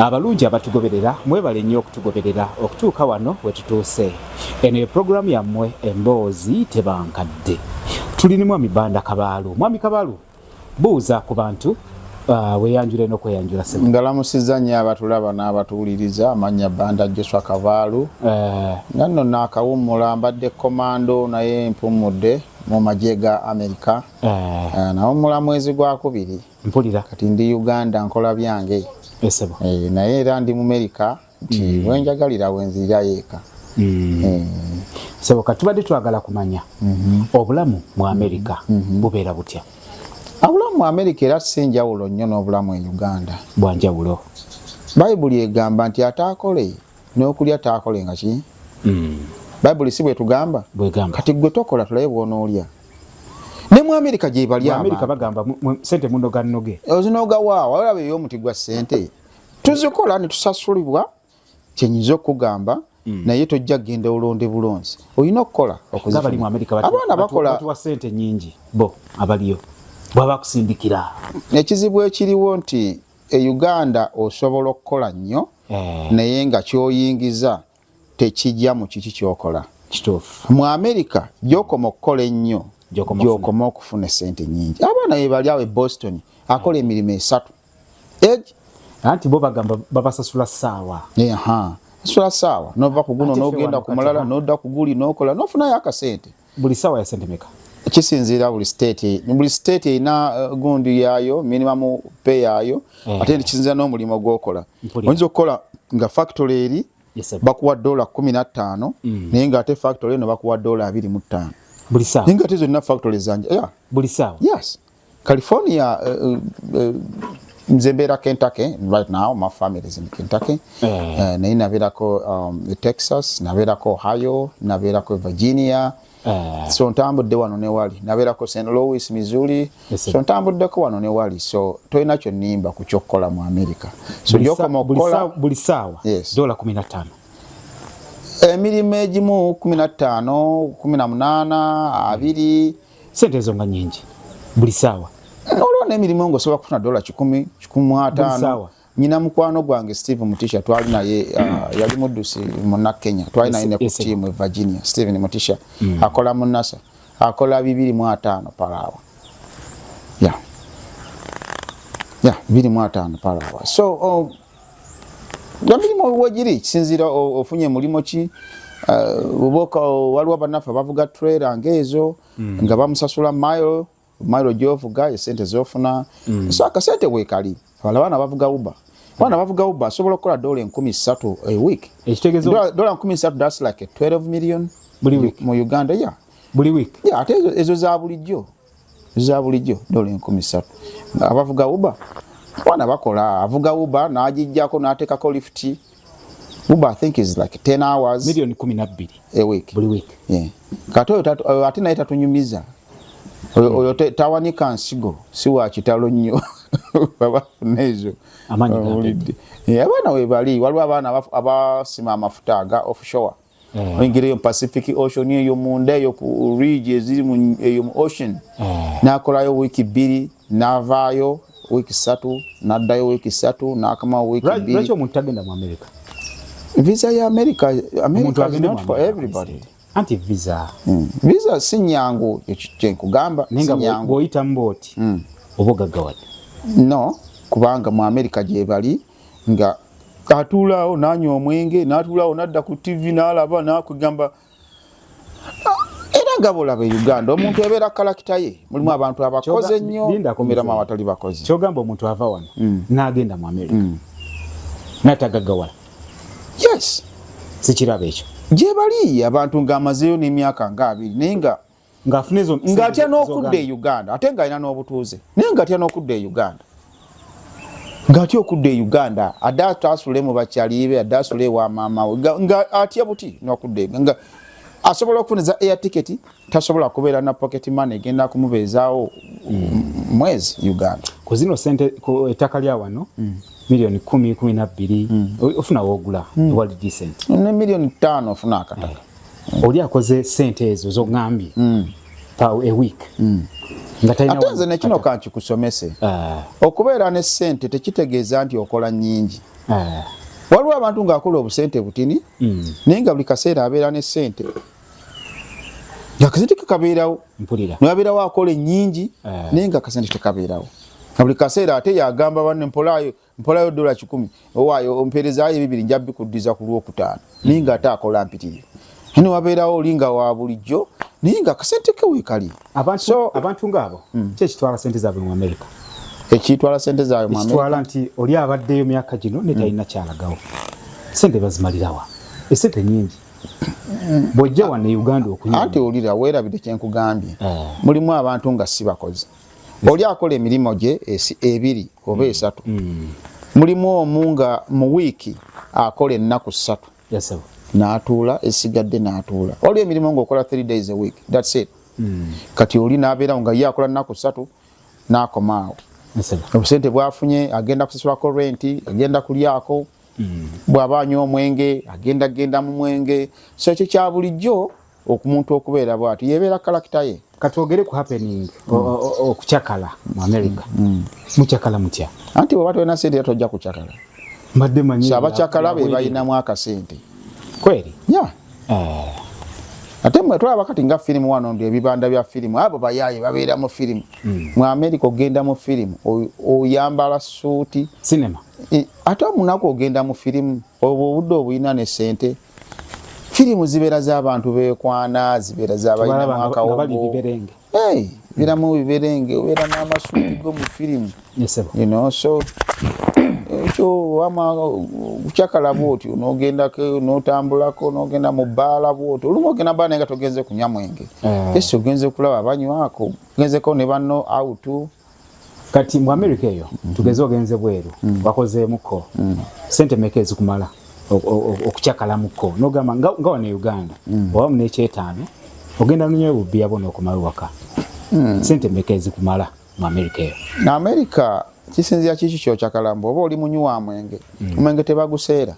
Abalungi abatugoberera mwebale nnyo okutugoberera okutuuka wano we tutuuse. Eno ye pulogulaamu yammwe emboozi tebankadde. Tuli ne Mwami Banda Kabaalu. Mwami Kabaalu, buuza ku bantu uh, weyanjule n'okweyanjula sebo. Ngalamusizza nnyo abatulaba n'abatuwuliriza amannya Banda Joshua Kabaalu. Eh. Nga nno naakawummula mbadde komando naye mpummudde mu magye ga Amerika. Eh. Eh, Nawummula mwezi gwakubiri. mpulira kati ndi uganda nkola byange esebo eh, naye era ndi mumerika nti mm. wenjagalira wenzirira yeeka mm. eh. sebo kati tubadde twagala kumanya mm -hmm. obulamu mu amerika mm -hmm. bubeera butya obulamu mu amerika era si njawulo nnyo n'obulamu e uganda bwanjawulo bayibuli egamba nti ataakole n'okulya taakole nga ki mm. bayibuli si bwetugamba kati gwe tokola tulabe bwonoolya mm. ne mu amerika gyebali amerika bagamba sente munoga noge ozinoga waawo olaba ey'omuti gwa sente tuzikola ne tusasulibwa kyenyiza okugamba Mm. naye tojja kugenda olonde bulonzi olina okukola abaana bakolawa sente nyingi bo abaliyo bwaba kusindikira ekizibu ekiriwo nti e uganda osobola okukola nnyo eh. naye nga kyoyingiza tekijja mu kiki kyokola kituufu mu america gyokoma okukola ennyo gyokoma okufuna esente nyingi abaana bebali awo e boston akola emirimu esatu anti bo bagamba babasasula saawa sula saawa nova kuguno nogenda kumulala noda kuguli nokola nofunayo akasente buli sawa ya sente meka kisinziira buli state buli state erina uh, gundu yaayo minimum pay yaayo eh. ate kisinziira n'omulimu gwokola oyinza okukola nga factory eri bakuwa dola kumi na ttaano mm. naye nga ate factory eno bakuwa dola abiri mu ttaano buli saawa naye nga ate zonna factory zanja buli saawa yes California uh, uh, uh, nze mbeera Kentucky right now my family is in Kentucky yeah. uh, naye nabeerako um, Texas nabeerako Ohio nabeerako Virginia yeah. so ntambudde wano ne wali nabeerako St Louis Missouri yes, so ntambuddeko wano ne wali so tolina kyonnimba ku kyokkola mu America so gyokoma okukola buli saawa yes. dola kumi na ttaano emirimu egimu kumi na ttaano kumi na munaana abiri mm. sente ezo nga nyingi buli saawa olwo n'emirimu nga osobola kufuna dola kikumi kikumu ataano nyina mukwano gwange steve mutisha twali naye uh, yali muddusi muna kenya twali naye ne ku tiimu e virginia steven mutisha mm. akola mu nasa akola bibiri mu ataano palaawa ya ya bibiri mu ataano palaawa so um, emirimu wegiri kisinziira ofunye mulimu ki uh, oboka waliwo banaffe bavuga trailer ngaezo mm. nga bamusasula mile mile gyovuga esente zofuna mm. so akasente wekali wala baana bavuga uba baana bavuga uba asobola okukola dola enkumi satu a week dola nkumi satu thats like 12 million mu uganda ya buli week ate ezo za bulijjo za bulijjo dola enkumi satu abavuga uba wana bakola avuga uba n'agijjako n'ateekako lifuti uba i think is like 10 hours milioni kumi nabbiri a week buli week yeah. kati oyo ate naye tatunyumiza oyo tawanika nsigo si wa kitalo nnyo babafuna ezo abaana webali waliwo abaana abasima amafuta aga offshore mm. oyingira eyo pacific ocean eyo munda eyo ku ridge eziri mu eyo mu ocean mm. nakolayo wiiki bbiri navaayo wiiki satu naddayo wiiki satu nakamawo wiiki bbiri lwaki omuntu tagenda mu america visa ya america america is not for everybody anti visa mm. visa si nyangu kyenkugamba bwoyitamu booti mm. oba ogaggawadde no kubanga mu america gyebali nga atuulaawo nanywa omwenge natuulaawo nadda ku tivi nalaba nakugamba gabolaba e uganda omuntu ebeera kalakita ye mulimu abantu abakoze nnyo miramu abatali bakozi kyogamba omuntu ava wano mm. nagenda mu amerika mm. natagagawala yes sikiraba ekyo gyebali abantu nga amazeeyo n'emyaka nga abiri naye nga ng'afuna ezo ng'atya n'okudda e uganda ate ng'alina n'obutuuze naye ng'atya n'okudda e uganda ng'atya okudda e uganda adde ataasule mu bakyaliibe adde asule ewa maamawe nga atya buti n'okudda e nga asobola okufuna eza air ticket tasobola kubeera na pocket money egenda kumubeezaawo mwezi uganda ku zino sente ku ettaka lya wano mm. milioni kumi kumi na bbiri mm. ofuna wogula mm. wali decent ne milioni ttaano ofuna akataka oli akoze sente ezo zogambye mm. pa a week mm. ate nze nekino kankikusomese ah. okubeera ne sente tekitegeeza nti okola nyingi ah. waliwo abantu ngaakola obusente butini mm. naye nga buli kaseera abeera ne sente akasente kekabeerawo nabeerawo akola enyingi ah. naye nga akasente tekabeerawo buli kaseera ate yagamba banne mpolaayo mpolayo dola kikumi owaayo ompeerezaayo ebibiri nja bikuddiza ku lwokutaano naye nga ate akola mpitirivu ani wabeerawo olinga wa bulijjo naye nga akasente ke weekali abantu ngaabo hmm. ki ekitwala sente zaabwe mu amerika ekitwala sente zaabwe mu amerika nti oli abaddeyo myaka gino ne talina hmm. kyalagawo sente bazimalirawa esente nyingi hmm. bwojja wanne uganda okunywa anti olira weerabidde kyenkugambye eh. mulimu abantu nga si bakozi oli akola emirimu gye ebiri oba esatu mm. mulimu omu nga mu wiiki akola ennaku ssatu n'atuula esigadde n'atuula oli emirimu ngaokola three days a week thats it mm. kati oli n'abeerawo nga ye akola nnaku ssatu n'akomaawo obusente bwafunye agenda kusasulako renti agenda kulyako mm. bw'aba anywa omwenge agenda genda mu mwenge so ekyo kya bulijjo okumuntu okubeera bwati yebeera kalakita ye katwogere ku happening okucakala mu america mm, mm. mucakala mutya anti bweba tolina sente tojja kucakala mbadde manyi abacakala be balinamu akasente kweri ya eh. ate mwe tulaba kati nga firimu wano ndi ebibanda bya firimu abo bayaye babeera mu firimu mm. mu america ogenda mu firimu oyambala suuti sinema ate omunaku ogenda mu firimu obwo obudde obulina ne sente firimu zibeera z'abantu beekwana zibeera z'abalina mwaka wogo biramu biberenge obeera n'amasuuti go mu firimu so ekyo wama kucakala bwotyo nogendako notambulako nogenda mu bbaala bwotyo olumu ogenda bbaala naye nga togenze kunywa mwenge eh. esi ogenze kulaba banywako ogenzeko ne banno autu kati mu america eyo mm. tugeze ogenze bweru mm. wakozeemuko mm. sente meka ezikumala okucakalamuko nogamba nga wano e uganda mm. oba munekyetaano ogenda nonyayo bubbiya bona okumala waka mm. sente meka ezikumala mu america eyo na america kisinzira kiki kyocakalamba oba oli munywi wa mwenge mm. omwenge tebaguseera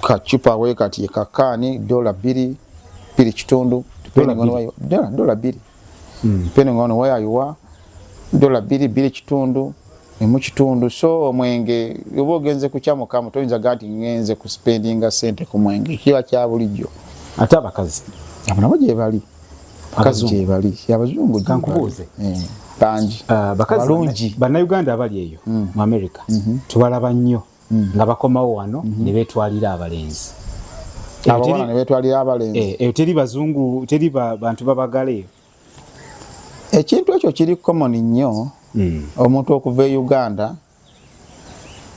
kacupa wekati kakaani dola bbiri bbiri kitundu dola bbiri mm. depending on where you are dola biri biri kitundu emu kitundu so omwenge oba ogenze kukyamukamu toyinza ga nti ngenze ku spendinga sente ku mwenge kiba kya bulijjo ate abakazi abo nabo gyebali abakazi gyebali abazungu kankubuuze eh, bangi ah, balungi bannayuganda abali eyo hmm. mu america hmm. tubalaba nnyo mm. nga bakomawo wano mm -hmm. ne beetwalira abalenzi abawala ne beetwalira abalenzi eh, eyo teri bazungu teri bantu babagala eyo ekintu ekyo kiri common nnyo mm. omuntu okuva e uganda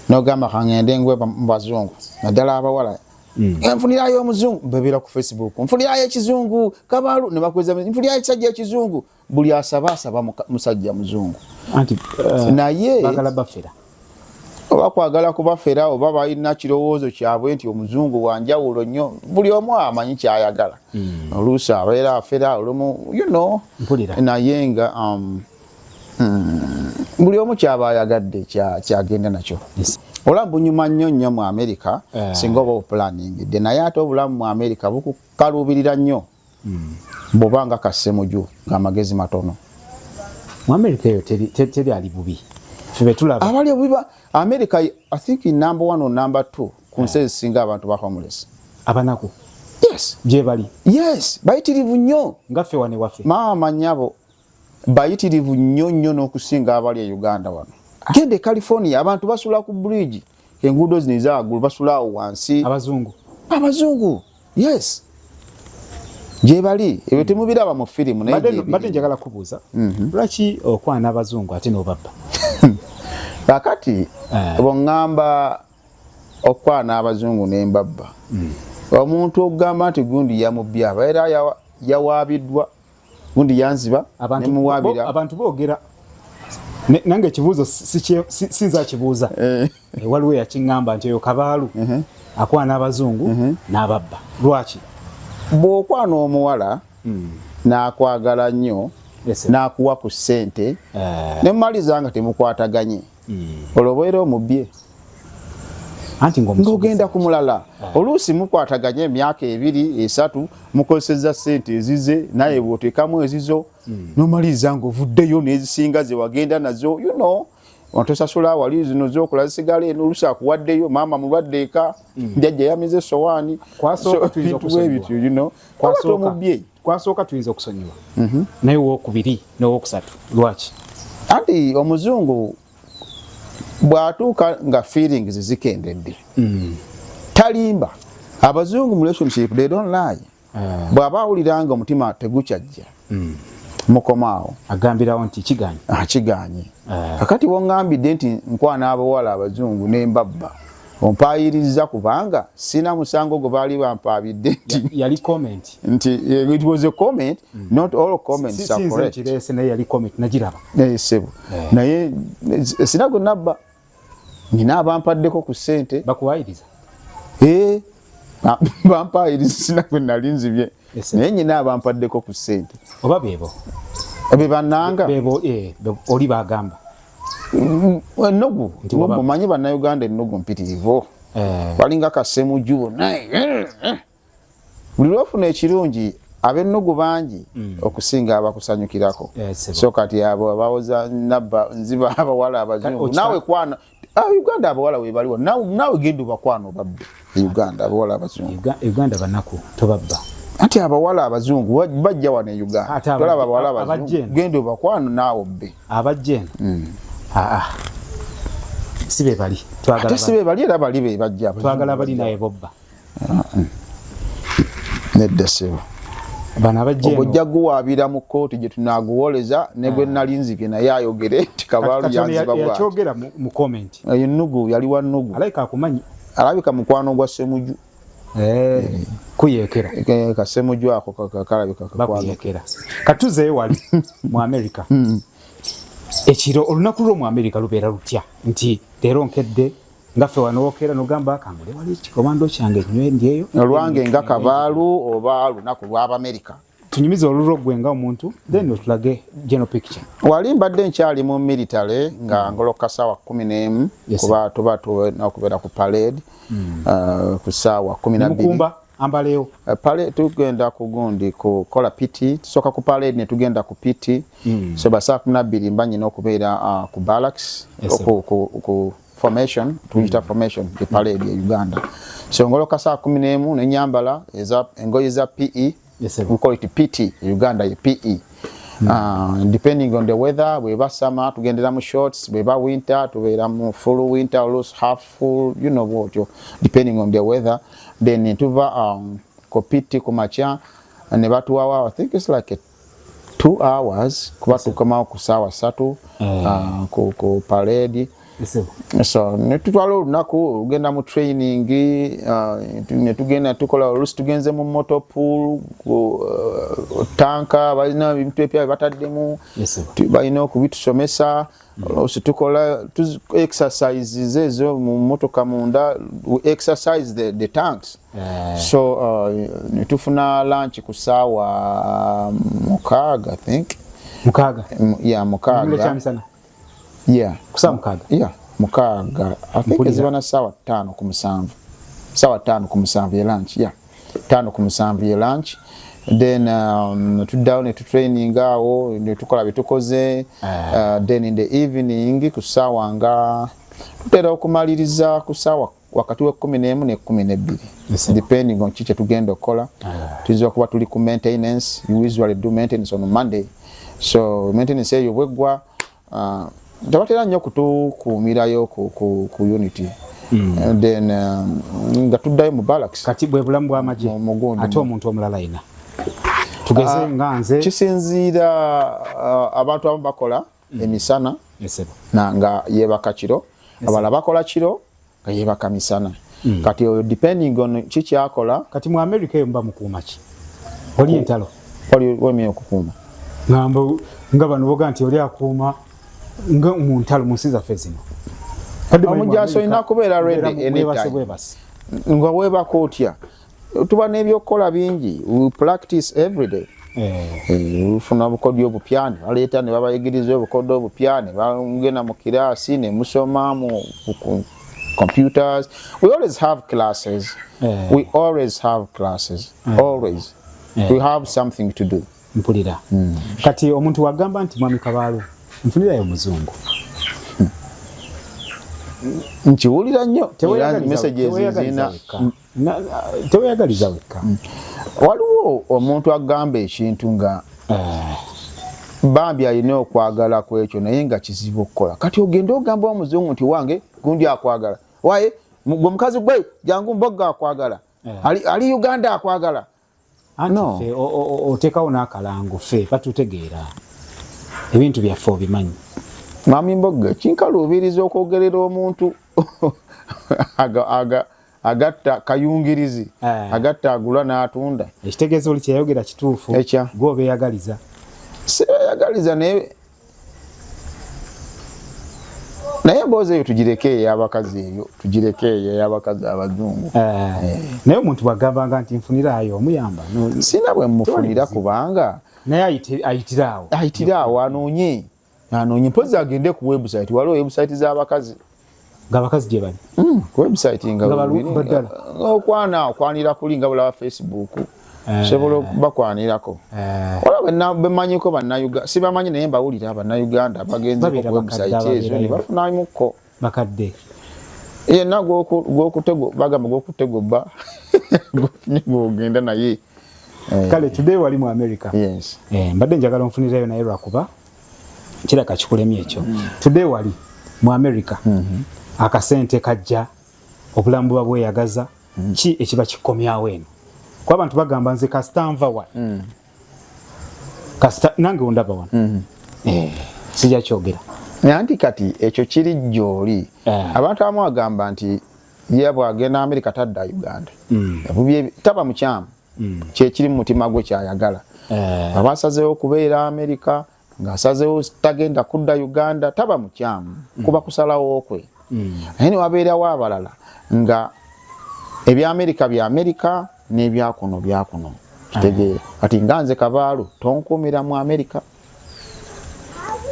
nogamba kangende ngwe mu bazungu naddala abawala mm. eh, nfunirayo omuzungu bebera ku facebook nfunirayo ekizungu kabalu nebakweza nfunirayo ekisajja ekizungu buli asaba asaba musajja muzungu anti uh, naye bagala bafera oba kwagala kubafera oba balina kirowoozo kyabwe nti omuzungu wanjawulo nnyo buli omu amanyi kyayagala mm. oluusi abeera afera olumu you know naye nga um, mm, buli omu kyaba ayagadde kyagenda nakyo yes. ola bunyuma nnyo nnyo mu amerika yeah. singa oba opulaningidde naye ate obulamu mu amerika bukukaluubirira nnyo mm. boba nga kasemuju ngamagezi matono mu america eyo teri, teri, teri ali bubi febetulaba abali obubi ba america i think in number one or number two ku nsi ezisinga abantu ba homeless abanaku yes gyebali yes bayitirivu nnyo ngaffe wane waffe maama nyabo bayitirivu nnyo nnyo n'okusinga abali e uganda wano genda e california abantu basula ku bridge enguudo zino ezagulu basula awo wansi abazungu abazungu yes gyebali ebyo temubiraba mu firimu nayebadde njagala kubuuza mhm. lwaki okwana abazungu ate nobabba kakati eh. bweŋŋamba okwana abazungu nembabba mm. omuntu okugamba nti gundi yamubyaba era yawaabiddwa gundi yanziba ne muwabira abantu bogera nange ekibuuzo sinza kibuuza eh. eh, waliwo yakiŋŋamba nti eyo kabaalu uh-huh. akwana abazungu uh-huh. n'ababba lwaki bw'okwana omuwala hmm. n'akwagala nnyo n'akuwa ku ssente eh. ne mumaliza nga temukwataganye olwo obeera omubbye anti ng'ogenda ku mulala ah. oluusi mukwataganya emyaka ebiri esatu mukozeseza sente ezize naye bwotekamu ezizo hmm. nomaliriza ngaovuddeyo nezisinga zewagenda nazo you know ontosasula wali zino zokola zisigala eno oluusi akuwaddeyo maama mulwadde eka hmm. njajja yamize esowaani ebintu bwebityo you know kwasooka omubyeyi kwasooka tuyinza okusonyiwa mhm. naye wokubiri nowokusatu lwaki anti omuzungu bwatuuka nga feelings zikendedde mm. talimba abazungu mu relationship they don't lie ah. bwaba awulira nga omutima tegukyajja mm. mukomaawo agambirawo nti kiganye ah, kiganye ah. kakati wongambidde nti nkwana abawala abazungu nembabba ompaayiriza kubanga sina musango gwe baali bampaabidde nti eh, it was a comment mm. not all comments are correct eh, sebo eh. naye sina gwe nabba nina abampaddeko ku ssente bakuwaayiriza Ah, bampa erisina kwe nali nzibye naye nyina abampaddeko ku ssente oba bebo be bananga bebo eh, oli bagamba mm, ennugu omanyi bannayuganda ennugu mpitirivu eh. balinga kasemuju naye eh, buli lwofuna ekirungi abennugu bangi mm. okusinga abakusanyukirako so kati abo abawoza nabba nziba abawala abazungu nawe kwana Ah, Uganda abawala webaliwo nawe genda obakwana obabbe Uganda abawala abazungu Uganda banaku tobabba anti abawala abazungu bajja wano e Uganda tolaba abawala abazungu genda obakwana naawe obbe abajja eno mm. ah, ah. si bebali ate si bebali era bali bebajja twagala bali naye bobba nedda sebo ogujja guwaabira mu kkooti gye tunaaguwoleza ne gwe ah. nali nzibye naye ayogere nti kabaalu yanziba bwakyogera mu komenti eyo nnugu yali wa nnugu alabika akumanyi alabika mukwano gwa semuju eh, kuyekera eh, kasemuju ako kalabika kakuyekera katuzeyo wali mu amerika hmm. ekiro olunaku lwo mu amerika lubeera lutya nti leero nkedde nga ffe wano wokeera nogamba kangule wali kikomando kyange nyeyo olwange nga kabaalu oba lunaku lw'abamerika tunyumize olulwo gwe nga omuntu then otulage general picture wali mbadde nkyali mu military nga mm. ngoloka saawa kumi n'emu yes, kuba tuba tulina okubeera ku parade mm. uh, ku saawa kumi nabimukumba ambaleyo uh, pale tugenda ku gundi kukola piti tusooka ku parade ne tugenda ku piti mm. so ba saa kumi nabbiri mba nyina okubeera uh, ku barracks yes, ku, ku, ku, formation tuyita formation e parade e Uganda so ngoloka saa kumi n'emu ne nyambala eza engoye za PE yes, we call it PT e Uganda ye PE mm. uh, depending on the weather bweba summer tugendera mu shorts bweba winter tubeera mu full winter or loose half full you know what you depending on the weather then tuva um, kopiti ku makya ne batuwawa i think it's like a two hours kuba tukomawo ku saawa satu mm. ah, ku parade so netutwala olunaku olugenda mu training ah, netugenda tukola olusi tugenze mu motopool ah, tanka balina ebintu epya bataddemu balina okubitusomesa oluusi tukola exercises ezo mu motoka munda exercise the, the tanks yeah. so uh, netufuna lunch ku saawa um, mukaaga think mukaaga ya mukaaga ya kusaa mukaaga ya mukaaga i think ezibana saawa ttaano ku musanvu saawa ttaano ku musanvu ye lunch ya yeah. tano ku musanvu ye lunch then um, tuddawo ne tutraining awo ne tukola bye tukoze ah. uh, then in the evening ku ssaawa nga tutera okumaliriza ku ssaawa wakati w'ekkumi n'emu n'ekkumi n'ebbiri depending on ki kye tugenda okukola ah. tuyinza okuba tuli ku maintenance usually do maintenance on monday so maintenance eyo bweggwa Ah, tebatera nnyo kutukuumirayo ku unity hmm. eh, then um, nga tuddayo mu balax kati bwe bulamu bwamagye ate omuntu omulala yina tugeze ah, nga nze kisinziira ah, abantu abamu bakola hmm. emisana nga yebaka kiro abala bakola kiro yebaka misana mm. kati oyo depending on kikyakola kati mu america eyo mba mukuuma ki oli entalo oli wemye okukuuma ngamba nga bano boga nti oli akuuma nga mu ntalo mu nsi zaffe zino omujaasi olina kubeera redi enebwebasi nga webaka otya tuba n'ebyokukola bingi we practice every day ufuna eh. eh, bukodyo obupya ne baleeta ne babayigiriza obukodyo obupya ne bagenda mu kiraasi ne musoma mu computers we always have classes eh. we always have classes always we have something to do mpulira hmm. kati omuntu wagamba nti mwami kabaalo nfunirayo omuzungu nkiwulira nnyo messages zirina teweyagaliza wekka mm. waliwo omuntu agamba ekintu nga eh. bambi alina okwagala ku ekyo naye nga kizibu okukola kati ogende ogamba omuzungu nti wange gundi akwagala waye gwe omukazi gwe jangu mboga akwagala eh. ali uganda akwagala anti oteekawo n'akalango ffe batutegeera ebintu byaffe obimanyi mwami mbogga kinkaluubiriza okwogerera omuntu agatta kayungirizi eh. agatta agula n'atunda ekitegeeza oli kyeyayogera kituufu ekya gwe obeeyagaliza sibeyagaliza naye naye emboozi eyo tugireke eyo abakazi eyo tugireke eyo eyabakazi abazungu eh, eh. naye omuntu bwagambanga nti nfuniraayo omuyamba sina bwe mufunira kubanga naye ayitiraawo ayitiraawo anoonye anoonye mpozi agende ku webusite waliwo webusite z'abakazi ng'abakazi gye bali hmm, website nga baddala okwana okwanira kuli nga bulaba facebook eh. sobola bakwanirako eh. olaba bemanyiko bannayuganda sibamanyi naye mbawulira bannayuganda bagenze ku website ezo ne bafunamukko bakadde yenna gwokutego bagamba gwokutegobba gwogenda naye eh. kale today wali mu america mbadde njagala onfunirayo naye lwakuba kiraka kikulemye ekyo mm. today wali mu america mm -hmm. akasente kajja obulamu buba bweyagaza mm. ki ekiba kikomyawo eno kuba abantu bagamba nze kasita nva wa mm. kasita nange ondaba wano mm -hmm. eh, sija kyogera nanti kati ekyo kiri gyoli eh. abantu abamu agamba nti ye bwagenda amerika tadda uganda mm. taba mukyamu mm. kyekiri mu mutima gwe kyayagala eh. aba asazeewo okubeera amerika ng'asazeewo tagenda kudda uganda taba mukyamu mm. kuba kusalawo kwe mm. naye newabeerawo abalala nga ebya amerika bya amerika n'ebyakuno byakuno kitegeera ah. kati nga nze kabaalu tonkuumira mu amerika mm.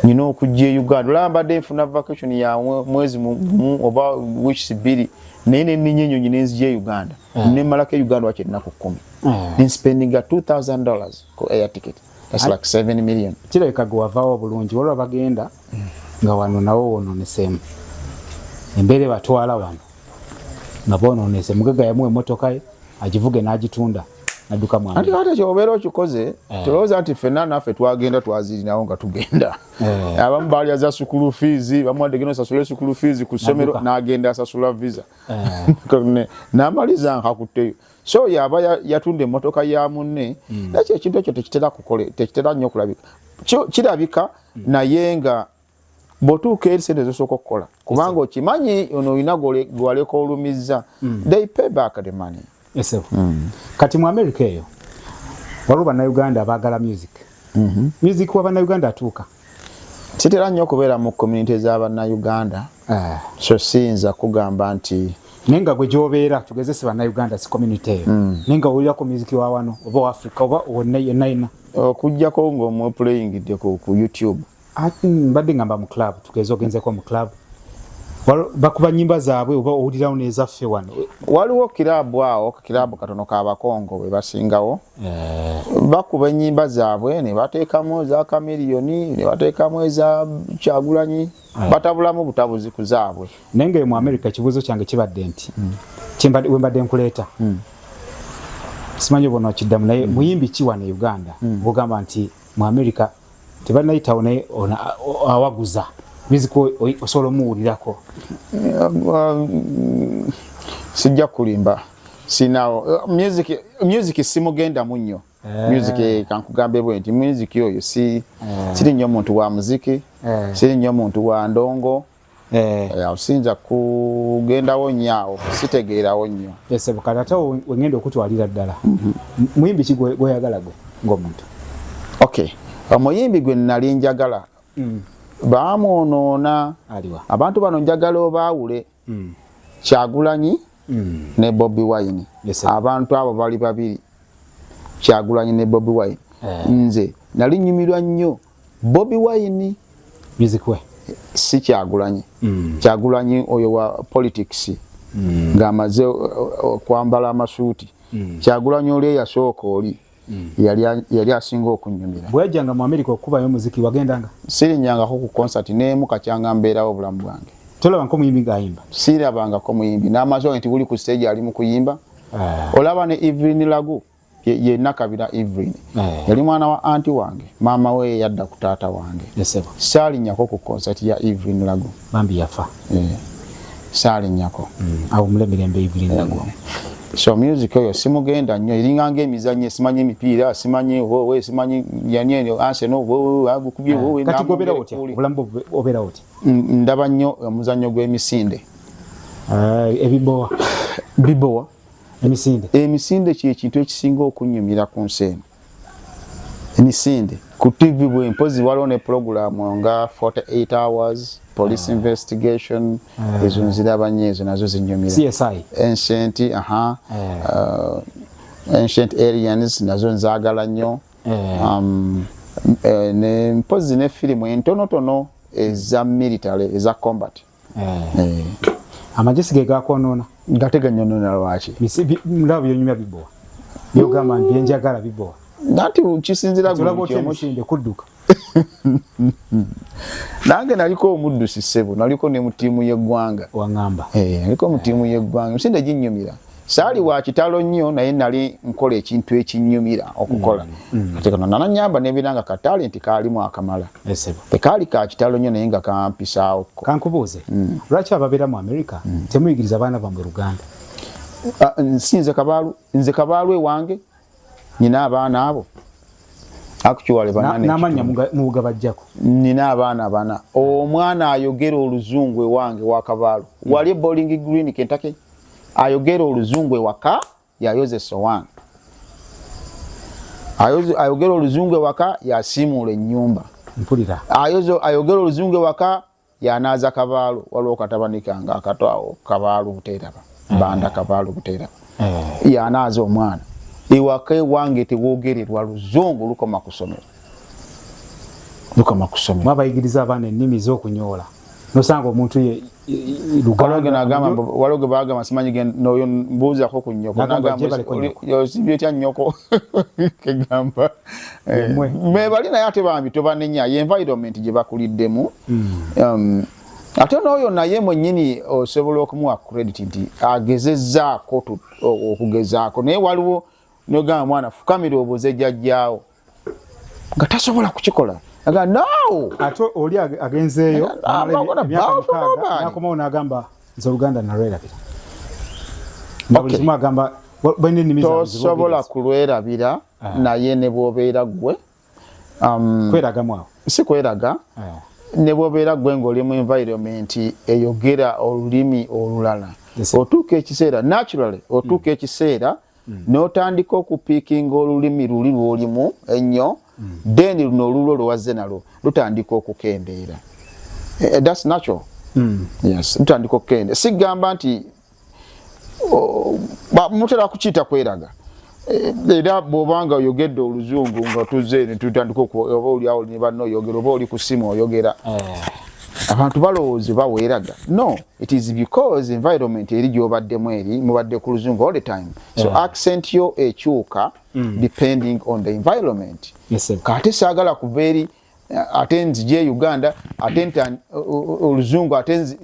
nina okujja e uganda olaba mbadde nfuna vacation ya mwezi mumu oba weeks bbiri naye neninya enyonyi nenzija e uganda mm. nemalako e uganda waki ennaku kumi mm. nenspendinga 2000 dollars ku air ticket thats like 7 million kirabika gwe wavaawo obulungi walwa bagenda mm. nga wano nawo wononesemu embeera ebatwala wano nga bononese mugagga yamuwa emotoka ye agivuge n'agitunda nadduka mwana ati kati kyobeera okikoze eh. tolowooza nti ffenna naffe twagenda twazirinawo nga tugenda eh. abamu baali aza sukulu fiizi bamuwadde genda osasula esukulu fiizi ku ssomero n'agenda asasula visa eh. n'amaliza nkakutteyo so yaba yatunda emmotoka ya munne hmm. nakyo ekintu ekyo tekitera nnyo okulabika kirabika hmm. naye nga bwotuuka eri sente zosooka okukola kubanga okimanyi ono olina gwaleka olumizza mm. they pay back the money esebo mm. kati mu america eyo waliwo bannayuganda abaagala music mm-hmm. music wa bannayuganda atuuka kitera nnyo okubeera mu community za bannayuganda eh. so siyinza kugamba nti naye nga gwe gyobeera tugezese bannayuganda si community eyo mm. naye nga owulirako music wa wano oba wa africa oba wonna yenna yenna okujjako ng'omuplayingidde ku youtube mbadde ngamba mu club tugeze ogenzeko mu club bakuba nyimba zaabwe oba owulirawo nezaffe wano waliwo kirabu awo kirabu katono ka bakongo bwe basingawo eh. bakuba enyimba zaabwe ne bateekamu eza kamiriyoni ne bateekamu eza kyagulanyi eh. batabulamu butabuzi ku zaabwe naye ngayo mu amerika ekibuuzo kyange kibadde nti hmm. wembadde nkuleeta hmm. simanyi obona okiddamu naye hmm. muyimbi ki wano e uganda ogamba nti mu amerika tebanayitawo naye awaguza biziko osobola omuwulirako sijja kulimba sinawo music music simugenda munyo eh. music eh, kankugambe bwe nti music oyo si eh. siri nyo muntu wa muziki siri nyo muntu wa ndongo Eh. Eh, awo siyinza kugendawo nnyo awo sitegeerawo nnyo esebukati ate wengenda okutwalira ddala mhm. muyimbi ki gweyagala gwe ngaomuntu ok omuyimbi gwe nali njagala mm. baamwonoona abantu bano njagala obaawule mm. kyagulanyi mm. ne bobi wine abantu abo bali babiri kyagulanyi ne bobi wine eh. nze nali nyumirwa nnyo Bobi Wine bizikwe si kyagulanyi mm. kyagulanyi oyo wa politics mm. ng'amaze uh, uh, okwambala amasuuti mm. kyagulanyi oli eyasooka oli mm. yali asinga okunyumira bweyajjanga mu amerika okukubayo omuziki wagendanga sirinyangako ku konsati neemu kakyanga mbeerawo obulamu bwange tolaba nko muyimbi ng'ayimba sirabangako muyimbi n'amaze nti buli ku siteegi ali mu kuyimba ah. olaba ne evelyn lagu ye nakabira Evelyn eh. yali mwana wa anti wange maama we yadda ku taata wange saalinyako ku concert ya Evelyn Lago bambi yafa eh. saalinyako mm. awo mulemirembe Evelyn eh. Lago so music oyo simugenda nnyo eringa nga emizannyo simanyi emipiira simanyi wowe simanyi yani anse no wowe agukubye wowe kati gobera otya obulambo obera otya ndaba nnyo omuzannyo gw'emisinde ebibowa bibowa emisinde emisinde kyekintu ekisinga okunyumira ku nsi eno emisinde ku tv bwe mpozi waliwo ne pulogulaamu nga 48 hours police ah. investigation ah. ezo nziraba nyo ezo nazo zinyumira ancient aha eh. uh, ancient aliens nazo nzagala nnyo eh. um, eh, ne mpozi ne firimu entonotono eza military eza combat mm. eh. eh. amagesi ge gakwonona gateganyonona lwaki ndaba byonyumya bibowa byogamba nti byenjagala bibowa nati kisinzira gweomusinde kudduka nange naliko omuddusi ssebo naliko ne mu ttiimu y'eggwanga waŋamba eh, naliko mu ttiimu y'eggwanga emisinde ginyumira saali wa kitalo nnyo naye nali nkola ekintu ekinyumira okukola mm, mm. ate kano nananyamba nebeera nga katalenti kaalimu akamala tekaali ka kitalo nnyo naye nga kampisaawo ko kankubuuze mm. lwaki ababeera mu amerika temuyigiriza abaana bamwe luganda ah, nsinze kabaalu nze kabaalu ewange nina abaana abo actually banane namanya mugabajjako nina abaana bana omwana ayogera oluzungu ewange wakabalo mm. wali bowling green kentake ayogera oluzungu ewaka yayoze sowan ayogera oluzungu ewaka yasimuula ennyumba mpulira ayogera oluzungu ewaka yanaaza kabaalu waliwo katabani kange akato awo kabaalu buteeraba banda mm. kabaalu buteeraba mm. yanaaza omwana ewaka ewange tewogererwa luzungu lukoma kusomero lukoma kusomero babayigiriza abaana ennimi z'okunyoola nosanga omuntu ye waloge bagamba simanyi noyo mbuuzako ku nyoko nagamba osibye tya nyoko kegamba eh, mebali naye ate bambi tobanenya ye environment gye bakuliddemu hmm. um, ate n'oyo naye mwennyini osobola okumuwa credit nti agezezzaako okugezaako naye waliwo nogamba mwana fukamira obuze jajjaawo nga tasobola kukikola aga no ate oli agenzeeyo nakomawo nagamba nze oluganda nalwerabira tosobola kulwerabira ah. naye ne bwobeera ggwe um, kweragamu awo si kweraga ah. ne bwobeera ggwe ng'oli mu environment eyogera olulimi olulala otuuka ekiseera naturally otuuka mm. ekiseera mm. n'otandika okupiikinga olulimi luli lwolimu ennyo mm. then luno olulwo lwewazze nalwo lutandika okukendeera eh, eh, that's natural mm. yes lutandika okukendeera sigamba nti mutera kukiyita kweraga eh, era bwobanga oyogedde oluzungu nga tuzze netutandika oba oliawo ne banna oyogera oba oli ku simu oyogera eh. abantu balowooza oba weeraga no it is because environment eri gyobaddemu eri mubadde ku luzungu all the time so eh. accent yo ekyuka mm. depending on the environment kate saagala kuva eri ate nzije e uganda ate nti oluzungu ate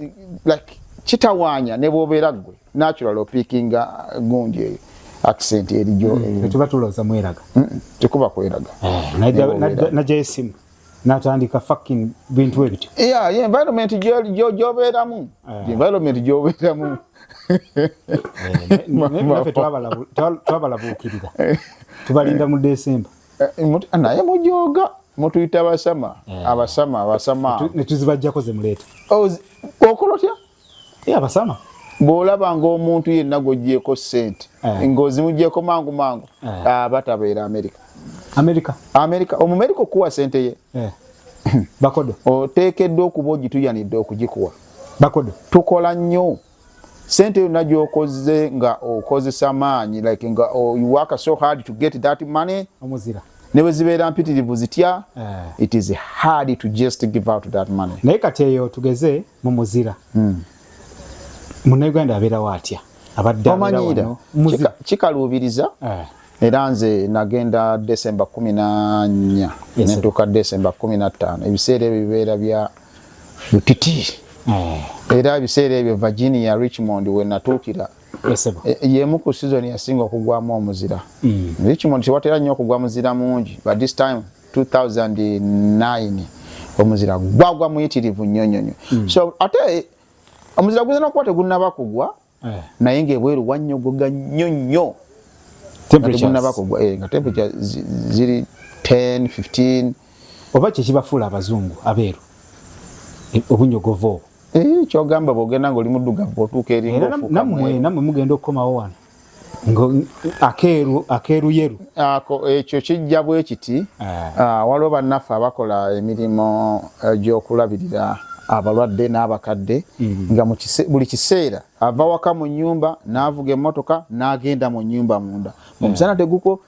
like kitawaanya ne bwobeera ggwe natural opikinga gundi eyo accent erijo mm, tuba tulooza mweraga tekuba kweraga eh, najja esimu natandika fucking bintu ebityo yeah, yeah, environment gyobeeramu eh. environment gyobeeramu eh, twabalabuukirira tubalinda mu desemba eh, naye mujoga mutuyita abasama eh. abasama abasama netuzibajjako zemuleeta oh, okola otya eh, abasama bwolaba ngaomuntu yenna gwogyeko sente ngaozimugyeko mangu mangu aba tabeera amerika amerika amerika omumerika okuwa sente ye bakodo oteekeddwa okuba ogituyanidde okugikuwa bakodo tukola nnyo sente yonna gyokoze nga okozesa maanyi like nga oh, you work so hard to get that money omuzira ne bwe zibeera mpitirivu zitya eh. it is hard to just give out that money naye kati eyo tugeze mu muzira hmm. munauganda abeerawo atya abaddeomanyira kikaluubiriza eh. era nze nagenda desemba kumi nanya netuuka desemba kumi nattaano ebiseera ebyo bibeera bya kiti eh. era ebiseera ebyo virginia richmond wenatuukira eh, yemu ku season yasinga okugwamu omuzira mm. richmond tewatera nnyo okugwa muzira mungi but this time 2009 omuzira gwagwa muyitirivu nyonyonyo mm. so ate omuzira guzina okuba tegunaba kugwa eh. naye ngaebweru wanyogoga nnyo nnyo eh, nga temperature ziri 10 15 oba kyekibafuula abazungu abeeru e, obunyogovu obwo eh, kyogamba bwogenda ngaoli muddugavu otuuka erinamwe mugenda okukomawo wano akeeru akeeruyeru ako ekyo kijja bwe kiti eh. ah, waliwo bannaffe abakola emirimu eh, gy'okulabirira abalwadde n'abakadde mm. nga buli kiseera ava waka mu nyumba n'avuga emmotoka n'agenda mu nyumba munda omusana eh. teguko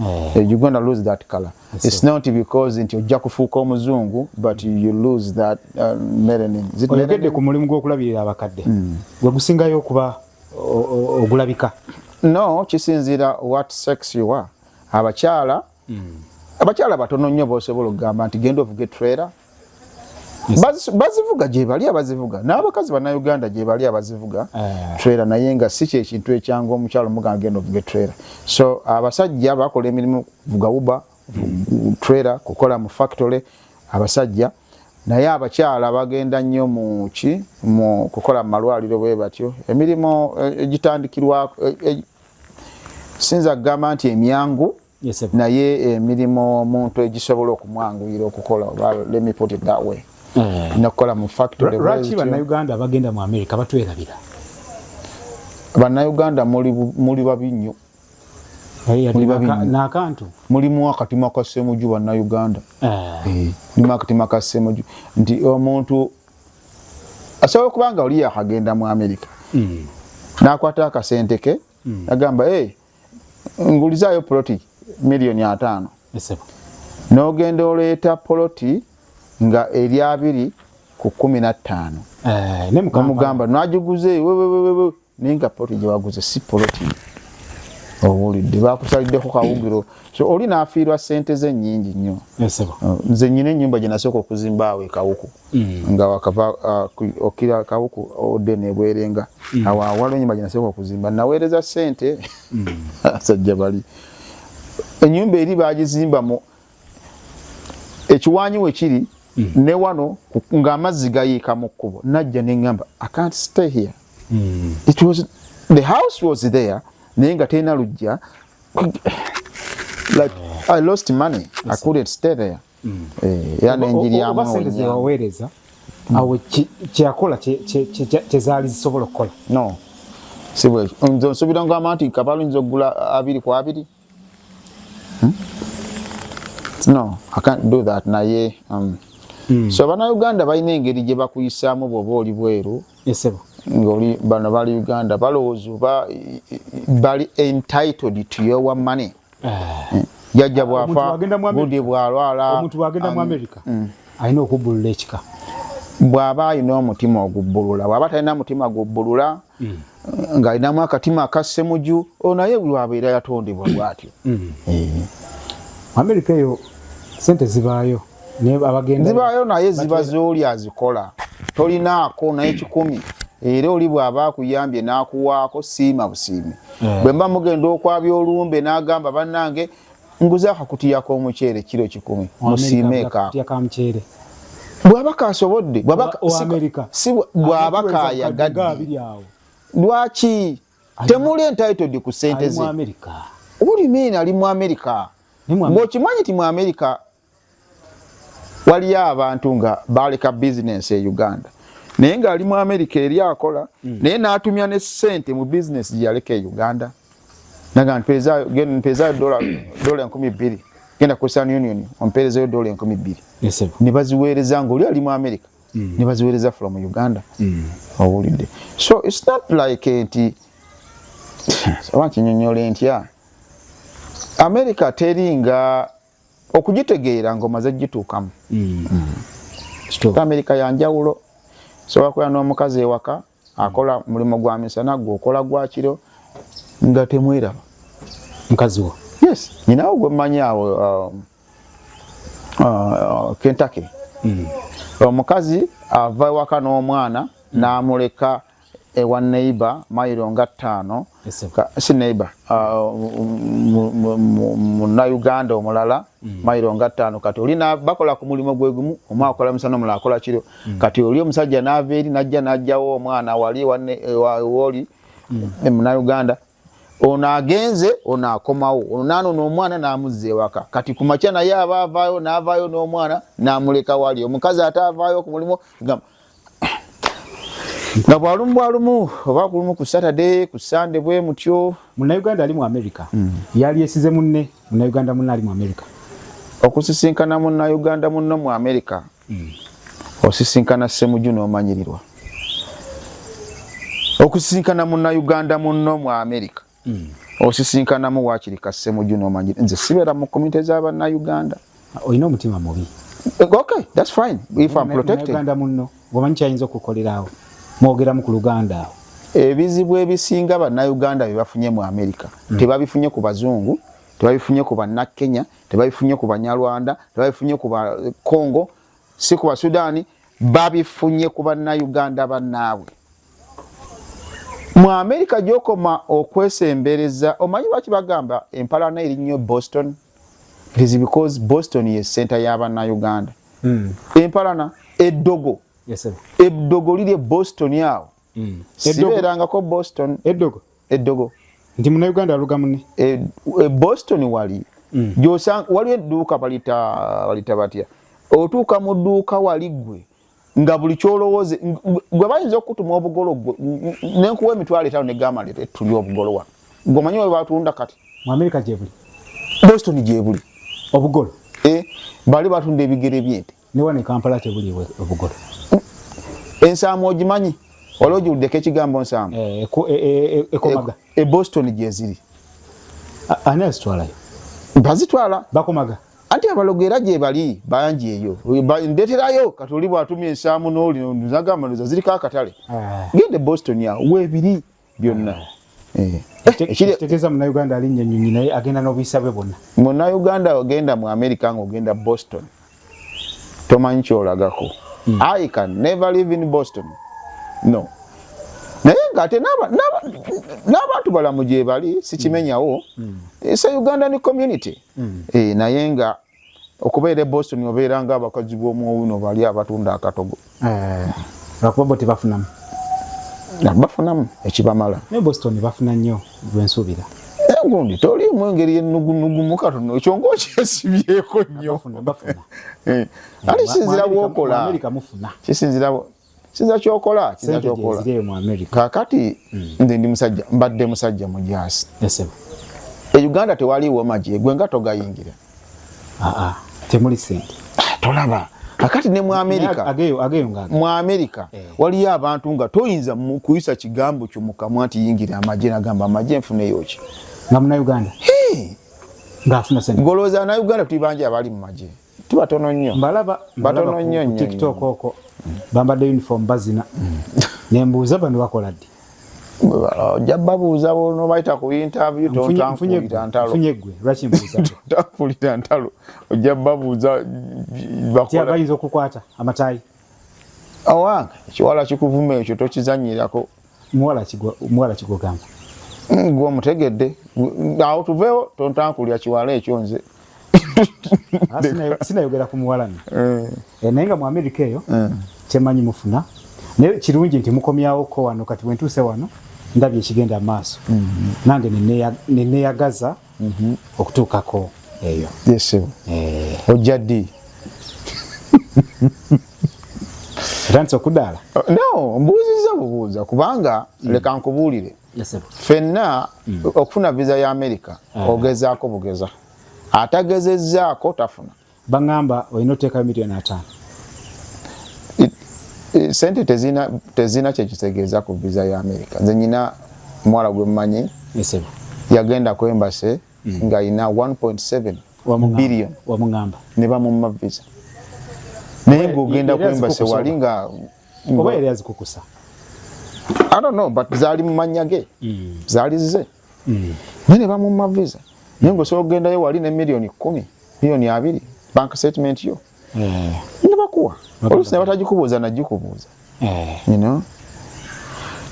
Oh. Eh, you're going to lose that color. That's it's so. not because nti ojja kufuuka omuzungu but you lose that uh, melanin. Oyogedde ku mulimu gw'okulabirira abakadde mm. gwe gusingayo okuba ogulabika? No, kisinziira what sex you are. Abakyala mm. abakyala batono nnyo b'osobola okugamba nti genda ovuga etrera bazivuga gyebali abazivuga n'abakazi bannayuganda gyebali abazivuga eh. trera naye nga si kyekintu ekyanga omukyalo muganga genda ovuga etrera so abasajja bakola emirimu vuga uba trera kukola mu factory abasajja naye abakyala bagenda nnyo muki mu kukola mu malwaliro bwe batyo emirimu eh, egitandikirwa eh, sinza kugamba nti emyangu naye emirimu eh, omuntu egisobola okumwanguyira okukola oba let me put it that way eh. nakukola mu factory lwaki bannayuganda abagenda mu america batwerabira bannayuganda muli babi nnyo nakantu mulimu akatima ka semuju bannayuganda eh. mulimu akatima ka semuju nti omuntu asobola okuba nga oli yakagenda mu amerika hmm. nakwata akasente ke hmm. agamba ngulizaayo poloti miliyoni ataano n'ogenda oleeta poloti nga eri abiri ku kumi na ttaano eh, nomugamba nagiguze wewewewe naye nga poloti gyewaguze si poloti owulidde bakusaliddeko kawugiro so oli nafiirwa sente ze nyingi nnyo eh, nze nyina enyumba gyenasooka okuzimbaawo ekawuku Mm. nga wakava uh, okira kawuku ode nebwerenga mm. awo awalo enyumba gyenasobola okuzimba naweereza sente mm. sajja bali enyumba eri bagizimba mu ekiwanyi wekiri ne wano ng'amazzi gayiika mu kkubo najja neŋamba i can't stay here it was the house was there naye nga terina lujja like i lost money i couldn't stay there mm. eh, era nenjiri yamuwaweereza mm. awo kyeyakola kyezaali zisobola okukola no si bwekyo nze nsuubira ngamba nti kabaala oyinza okugula abiri ku abiri hmm? no i can't do that naye um, mm. so banauganda balina engeri gye bakuyisaamu bwoba oli bweru esebo ngoli bano bali uganda balowooza oba bali entitled to your money eh. jajja bwafa budi bwalwala omuntu bwagenda mu amerika mm. alina okubbulula ekika bw'aba alina omutima ogubbulula bw'aba talina mutima gubbulula mm. ng'alinamu akatima akassemuju oyo naye bwabeera yatondebwa bwatyo mm. eh. amerika eyo sente zibaayo zibaayo naye ziba zooli azikola tolinaako naye kikumi era oli bw'aba akuyambye n'akuwaako siima busiimi eh. bwe mba mugenda okwabya olumbe n'agamba bannange nguze akakutiyako omuceere kiro kikumi musiimeeka bw'aba kaasobodde bw'aba kaayagadde lwaki temuli entitled ku sente ze uli mean ali mu america ng'okimanyi ti mu america waliyo abantu nga baleka bizinensi e uganda naye ngaali mu amerika eri akola mm. naye natumya ne sente mu bizinensi gyeyaleka e uganda naga mpeezayo dola enkumi bbiri genda ku western union ompeerezayo dola enkumi bbiri nebaziweereza nga oli ali mu amerika mm. nebaziweereza from uganda mm. owulidde so its not like nti oba nkinyonyole ntya amerika teringa okugitegeera nga omaze gituukamu mm. mm. amerika yanjawulo sobola kubeera n'omukazi ewaka akola mulimu gwa misana gwe okola gwakiro nga temweraba mukazi wo yes nyinawo gwe mmanyi awo uh, uh, kentake mm. omukazi ava ewaka n'omwana n'amuleka ewa neighbor mailo nga ttaano si neighbor ah, munauganda omulala mm. mailo nga ttaano kati oli bakola ku mulimu gwegumu omu akola misana omulala akola kiro mm. kati oli omusajja naava eri najja najjawo omwana wali woli mm. munauganda ono agenze ono akomawo ono nanona omwana namuzza ewaka kati kumakya naye aba avaayo navaayo n'omwana namuleka wali omukazi ate avaayo ku mulimu nga bwalumu bwalumu oba kulumu ku saturday ku sande bwe mutyo munauganda ali mu america mm. yali esize munne munauganda munne ali mu america okusisinkana munauganda munno mu america hmm. osisinkana semuju nomanyirirwa okusisinkana munauganda munno mu amerika hmm. osisinkanamu wakiri ka semuju nomanyiri nze sibeera mu komite za banauganda olina omutima mubi eh, okay that's fine if i'm protected munno omanyi kyayinza okukolerawo mwogeramu ku luganda awo ebizibu ebisinga banauganda byebafunye mu amerika hmm. tebabifunye ku bazungu tebabifunye ku banakenya tebabifunye ku banyarwanda tebabifunye ku bakongo si ku basudani babifunye ku bannauganda bannaabwe mu amerika gyokoma okwesembereza omanyi lwaki bagamba empalana eri nnyo boston it is because boston ye senta y'abannauganda hmm. empalana eddogo eddogo liri e boston awo hmm. sibeerangako boston eddogo eddogo nti munauganda aluga mune e, e boston wali mm. gyosanga waliwo edduuka balita balita batya otuuka mu dduuka wali gwe nga buli kyolowooze gwe bayinza okukutuma obugolo gwe nenkuwa emitwalo etaano negamba nti etuli obugolo wano gwemanyi we batunda kati mu amerika gyebuli boston gyebuli obugolo e, bali batunda ebigere byente ne wano ekampala tebuli obugoto ensaamu ogimanyi wali ogiwuddeko ekigambo nsaamu eh, e, e, ekomaga e, e boston gyeziri ani azitwalayo bazitwala bakomaga anti abalogo era gyebali bangi eyo ndeterayo kati oli bwatumya ensaamu noli nzagamba noza ziriko akatale ah. gende boston awo webiri byonna eh. ekitegeeza munauganda alinnya nyonyi naye agenda n'obuyisa bwe bwonna munauganda ogenda mu america nga ogenda boston tomanyi kyolagako hmm. i can never live in boston no naye ngaate n'abantu balamu gyebali sikimenyawo hmm. hmm. eh, se ugandan community naye nga okubeera e boston obeera nga abakazi b'omuwuno bali abatunda akatogo eh, lwakuba bo tebafunamu bafunamu ekibamala naye boston bafuna nnyo lwensuubira gundi toliimu engeri enugunugumu katono ekyo ngaokyesibyeko nnyo eh, ali kisinzira bwokola kisinzira sinza kyokola sinza kyokola kakati mm. nze ndi musajja mbadde musajja mujaasi e uganda tewali womaje gwe nga togayingira ah, ah. temuli sente ah, tolaba kakati ne mu amerika mu amerika eh. waliyo abantu nga toyinza kuyisa kigambo kyo mukamwa nti yingira amaje nagamba amaje nfuneyoki nga munauganda hey. ngafuna sente ngolowooza na uganda tuli bangi abali mu magye ti batono nnyo mbalaba batono nnyo nnyo tiktok oko bambadde uniform bazina mm. nembuuza bano bakola ddi ojja babuuza nobayita ku interview tontankulira ntalo tontankulira ntalo ojja babuuza bayinza okukwata amatayi awange ekiwala kikuvuma ekyo tokizanyirako muwala kigwa muwala kigwa gamba mm, gwo mutegedde awo tuvewo tontankulya kiwala ekyo nze ah, sinayogera ku muwala no eh. eh, naye nga mu amerika eyo eh. kyemanyi mufuna naye kirungi nti mukomyawo ko wano kati bwentuuse wano ndabye ekigenda amaaso mm-hmm. nange neneyagaza ne mhm. okutuukako eyo yesebo eh. ojja ddi otandise okudaala oh, no mbuuzizza bubuuza kubanga mm. leka nkubuulire fenna mm. okufuna viza ya amerika ah. ogezaako bugeza atagezezzaako tafuna bangamba olina oteekayo miliyoni ataano eh, sente tezina tezina kyekitegeeza ku visa ya america nze nyina omuwala gwe mumanyi yagenda ku embase mm. nga yina 1.7 billion wamugamba ne bamumma visa naye ng'ogenda ku embase wali nga oba yali azikukusa i don't know but zaali mu mannya ge mm. zaali zize mm. naye ne bamumma visa naye nga osobola okugendayo wali ne miliyoni kumi miliyoni abiri bank statement yo eh. ne bakuwa oluusi ne batagikubuuza nagikubuuza eh. you know